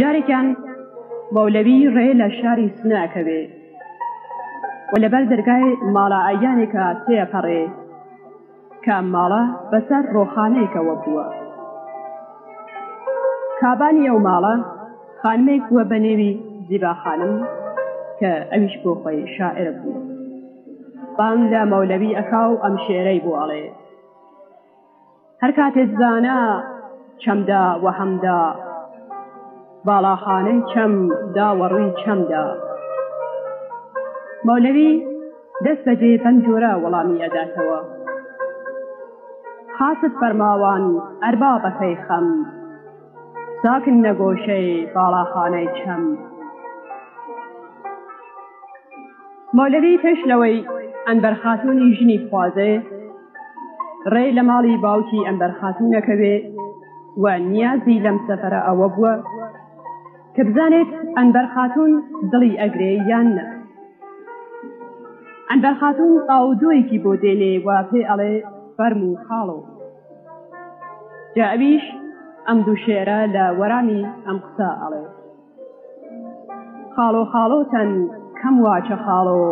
جارێکیان مەولەوی ڕێ لە شاری سنە ئەکەوێ و لەبەر دەرگای ماڵە ئایانێکە تێپەڕێ کە ئەم ماڵە بەسەر ڕۆخانەیەکەوە بووە کابانی ئەو ماڵە خانمێک بووە بە نێوی زیبا خانم کە ئەویش بۆ خۆی شاعرە بوو بانگ لە مەولەوی ئەکا و ئەم شێرەی بۆ ئەڵێ هەر کاتێ زانا چەمدا وەهەمدا باڵاخانەی چەم دا وەڕووی چەمدا مەولەوی دەست بەجێ بەم جۆرە وەڵامی ئەداتەوە خاست فەرماوان ئەربابەکەی خەم ساکن لە گۆشەی باڵاخانەی چەم مۆلەوی پێش لەوەی ئەنبەر خاتونی ژنی خوازێ ڕێ لە ماڵی باوکی ئەمبەر خاتونەکەوێ و نیازی لەم سەفرە ئەوە بووە کە بزانێت ئەنبەر خاتون دڵی ئەگرێ یان نە ئەنبەر خاتون ئاودۆیەکی بۆ دێنێ و پێ ئەڵێ فەرمو خاڵۆ جا ئەویش ئەم دوو شێرە لە وەرامی ئەم قسە ئەڵێ خاڵۆ خاڵۆتەن کەم واچە خاڵۆ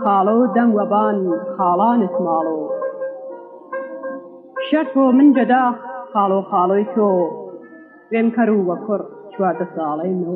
خاڵۆ دەم وەبان خاڵانت ماڵۆ شەر تۆ من جەدا خاڵۆ خاڵۆی تۆ وێم کەر و وە کوڕ چواردە ساڵەی نۆ